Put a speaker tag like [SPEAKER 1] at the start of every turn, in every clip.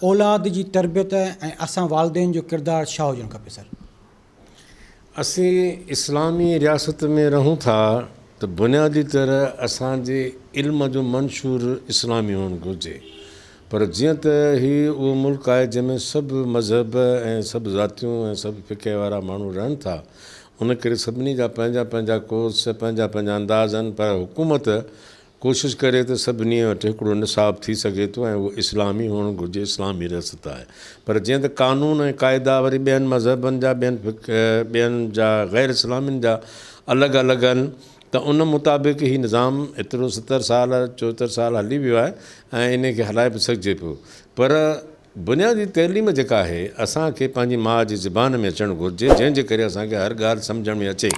[SPEAKER 1] اولاد جي تربيت ۽ اسان والدين جو ڪردار ڇا هجڻ کپي سر.
[SPEAKER 2] اسين اسلامي رياست ۾ رهون ٿا ته بنيادي طرح اسان جي علم جو منشور اسلامي هئڻ گهرجي پر جيئن ته هي اهو ملڪ آهي جنهن ۾ سڀ مذهب ۽ سڀ ذاتيون ۽ سڀ فقه وارا ماڻهو رهن ٿا ان ڪري سڀني جا پنهنجا پنهنجا ڪورس، پنهنجا پنهنجا انداز آهن پر حڪومت ڪوشش ڪري ته سڀني وٽ هڪڙو نصاب ٿي سگهي ٿو ۽ اهو اسلامي هئڻ گهرجي، اسلامي رياست آهي پر جيئن ته قانون ۽ قاعدا وري ٻين مذهبن جا ٻين ٻين جا غير اسلامين جا الڳ الڳ آهن ته ان مطابق هي نظام ايترو ستر سال چوهتر سال هلي ويو آهي ۽ انهي کي هلائي به سگهجي پيو پر بنيادي تعليم جيڪا آهي اسان کي پنهنجي ماء جي زبان ۾ اچڻ گهرجي جنهن جي ڪري اسان کي هر ڳالهه سمجهڻ ۾ اچي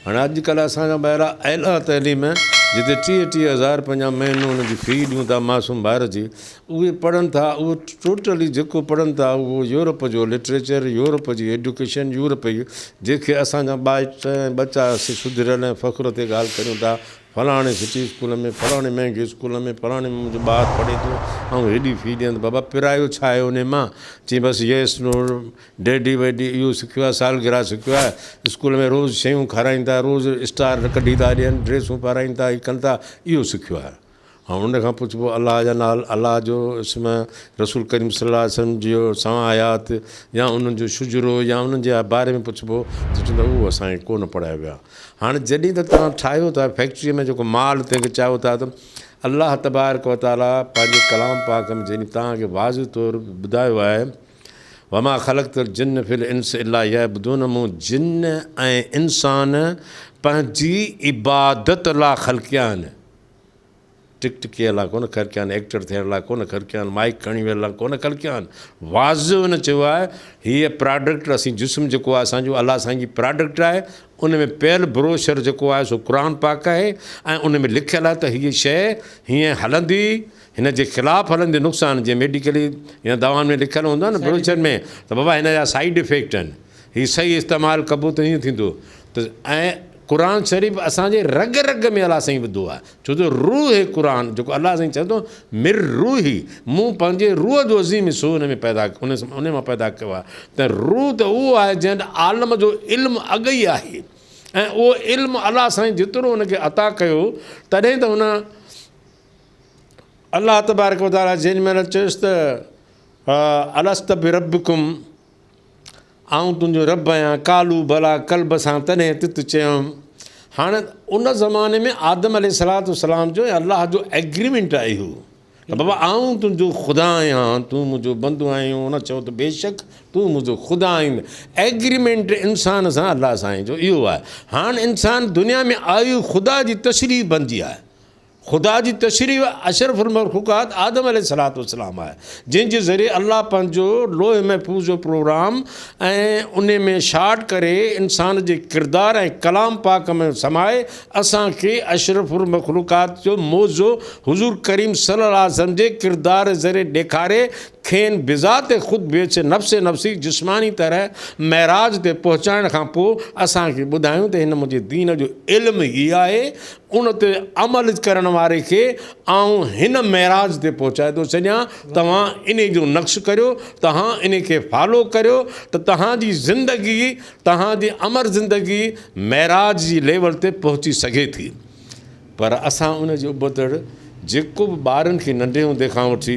[SPEAKER 2] هاڻي اڄ ڪلهه اسان جا ٻارا اعليٰ تعليم جتي ٽيهه ٽيهه هزار پنهنجا مهينو ان جي في ڏيون ٿا معصوم ٻار جي اهي پڙهن ٿا اهو ٽوٽلي جيڪو پڙهن ٿا اهو يورپ جو لٽريچر يورپ جي ايڊوڪيشن يورپ جي جيڪي اسان جا ٻائٽ ۽ ٻچا سڌريل ۽ فخر تي ڳالهه ڪريون ٿا فلاڻي سٽي اسڪول ۾ فلاڻي مهنگي اسڪول ۾ فلاڻي ۾ منهنجو ٻار پڙهي ٿو آئون هيڏي في ڏيان ته بابا پرايو ڇا آهي ان مان چي بس يس نو ڊيڊي ويڊي اهو سکيو آهي سالگرا سکيو آهي اسڪول ۾ روز شيون کارائين ٿا روز اسٽار ڪڍي ٿا ڏين ڊريسون پارائين ٿا هي ڪن ٿا اهو سکيو آهي ۽ ان کان پڇبو الله جا نال الله جو اسم رسول ڪريم صلي الله عليه وسلم جي سوان آيات يا انهن جو شجرو يا انهن جي باري ۾ پڇبو ته چوندا اهو اسان کي ڪونه پڙهايو ويو آهي هاڻي جڏهن ته توهان ٺاهيو ٿا فيڪٽري ۾ جيڪو مال تنهن کي چاهيو ٿا ته الله تبارڪ و تعالي پنهنجي ڪلام پاڪ ۾ جنهن توهان کي واضح طور ٻڌايو آهي وما خلقت الجن في الانس الا يعبدون مون جن ۽ انسان پنهنجي عبادت لا خلقيا آهن ٽڪ ٽڪيء لاء ڪونه کر ڪيان، ايڪٽر ٿيڻ لاء ڪونه کر ڪيان، مائيڪ کڻي ويهڻ لاء ڪونه کر ڪيان. واضح هن چيو آهي، هيء پراڊڪٽ اسين جسم جيڪو آهي اسان جو الله سائين جي پراڊڪٽ آهي، ان ۾ پيل بروشر جيڪو آهي سو قرآن پاڪ آهي ۽ ان ۾ لکيل آهي ته هيء شيء هيئن هلندي، هن جي خلاف هلندي نقصان جيئن ميڊيڪلي يا دوائن ۾ لکيل هوندو آهي نه بروشر ۾ ته بابا هن جا سائيڊ افيڪٽ آهن، هي صحيح استعمال ڪبو ته هيئن ٿيندو ته ۽ قرآن شريف اسان جي رڳ رڳ ۾ الله سائين وڌو آهي ڇو جو روح قرآن جيڪو الله سائين چئي ٿو مر روحي مون پنهنجي روح جو عظيم حصو ان ۾ پيدا ان مان پيدا ڪيو آهي ته روح ته اهو آهي جنهن عالم جو علم اڳ ئي آهي ۽ اهو علم الله سائين جيترو ان کي عطا ڪيو تڏهن ته ان الله تبارڪ وطالا جن مهل چيس ته الست بربڪم آئون تنهنجو رب آهيان. قالوا بليٰ قلب سان تڏهن تت چيم. هاڻ ان زماني ۾ آدم عليه الصلوة والسلام جو ۽ الله جو ايگريمينٽ آهي اهو ته بابا آئون تنهنجو خدا آهيان تون منهنجو بندو آهين هن چيو ته بيشڪ تون منهنجو خدا آهين ايگريمينٽ انسان سان الله سائين جو اهو آهي هاڻ انسان دنيا ۾ آيو خدا جي تشريح بنجي آهي خدا جي تشريح اشرف المخلوقات آدم عليه السلام آهي، جنهن جي ذريعي الله پنهنجو لوح محفوظ جو پروگرام ۽ ان ۾ شاٽ ڪري انسان جي ڪردار ۽ ڪلام پاڪ ۾ سمائي اسان کي اشرف المخلوقات جو معجزو حضور ڪريم صلي الله عليه وسلم جي ڪردار ذريعي ڏيکاري کين بذات خود بيچ نفس نفسي جسماني طرح معراج تي پهچائڻ کان پوء اسان کي ٻڌايون ته هن منهنجي دين جو علم هي آهي ان تي عمل ڪرڻ واري کي آئون هن معراج تي پهچائي ٿو ڇڏيان توهان ان جو نقش ڪريو توهان ان کي فالو ڪريو ته توهان جي زندگي توهان جي امر زندگي معراج جي ليول تي پهچي سگهي ٿي پر اسان ان جي ابتڙ جيڪو به ٻارن کي ننڍي هوندي کان وٺي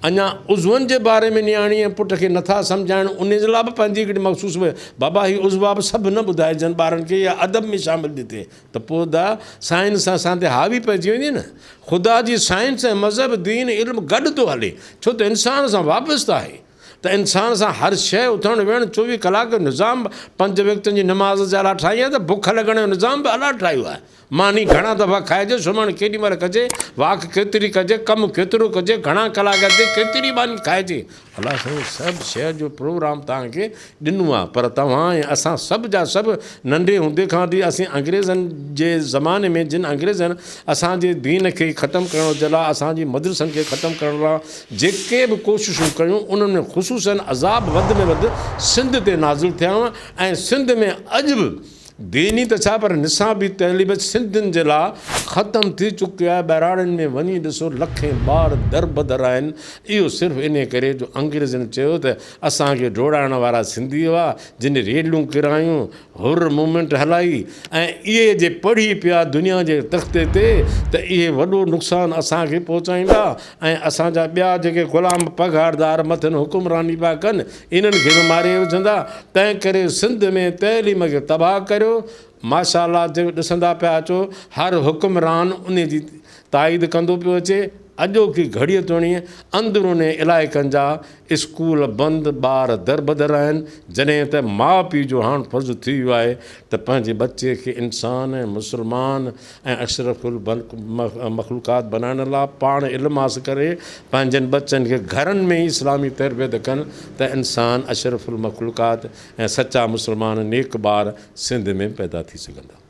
[SPEAKER 2] اڃا عضون جي باري ۾ نياڻي ۽ پٽ کي نٿا سمجهائن ان جي لاء به پنهنجي هڪڙي مخصوص بابا هي عضوا به سڀ نه ٻڌائجن ٻارن کي يا ادب ۾ شامل ڏتي ته پوء دا سائنس سان اسان تي حاوي پئجي وڃي نه. خدا جي سائنس ۽ مذهب، دين، علم گڏ ٿو هلي، ڇو ته انسان سان وابسته آهي. ته انسان سان هر شيء اٿڻ ويهڻ چوويهه ڪلاڪ جو نظام به پنج وقتن جي نماز جي الاٽ ٺاهي آهي ته بک لڳڻ جو نظام به الاٽ ٺاهيو آهي. ماني گهڻا دفعا کائجي، سمهڻ ڪيڏي مهل ڪجي، واڪ ڪيتري ڪجي، ڪم ڪيترو ڪجي، گهڻا ڪلاڪ هلجي، ڪيتري ماني کائجي، الله سائين سڀ شهر جو پروگرام توهان کي ڏنو آ پر توهان ۽ اسان سڀ جا سڀ ننڍي هوندي کان وٺي اسين انگريزن جي زماني ۾ جن انگريزن اسان جي دين کي ختم ڪرڻ جي لا اسان جي مدرسن کي ختم ڪرڻ لا جيڪي به ڪوششون ڪيون انهن ۾ خصوصن عذاب وڌ ۾ وڌ سنڌ تي نازل ٿيا ۽ سنڌ ۾ اڄ به ديني ته ڇا پر نصابي تعليم سنڌين جي لا ختم ٿي چڪي آهي ٻهراڙين ۾ وڃي ڏسو لکين ٻار دربدر آهن اهو صرف انهي ڪري جو انگريزن چيو ته اسان کي ڊوڙائڻ وارا سنڌي هئا جن ريلون ڪرايون حر مومينٽ هلائي ۽ اهي جي پڙهي پيا دنيا جي تختي تي ته اهي وڏو نقصان اسان کي پهچائيندا ۽ اسان جا ٻيا جيڪي غلام پگهاردار مٿن حڪمراني پيا ڪن انهن کي به ماري وجهندا تنهن ڪري سنڌ ۾ تعليم کي تباهه ڪريو ماشاءالله جيڪو ڏسندا پيا اچو هر حڪمران انهي جي تائيد ڪندو پيو اچي اڄوڪي گهڙي توڻي اندروني علائقن جا اسڪول بند ٻار دربدر آهن جڏهن ته ماء پيء جو هاڻ فرض ٿي ويو آهي ته پنهنجي ٻچي کي انسان ۽ مسلمان ۽ اشرف البلق مخلوقات بنائڻ لا پاڻ علم حاصل ڪري پنهنجن بچن کي گهرن ۾ ئي اسلامي تربيت ڪن ته انسان اشرف المخلوقات ۽ سچا مسلمان نيڪ ٻار سنڌ ۾ پيدا ٿي سگهندا.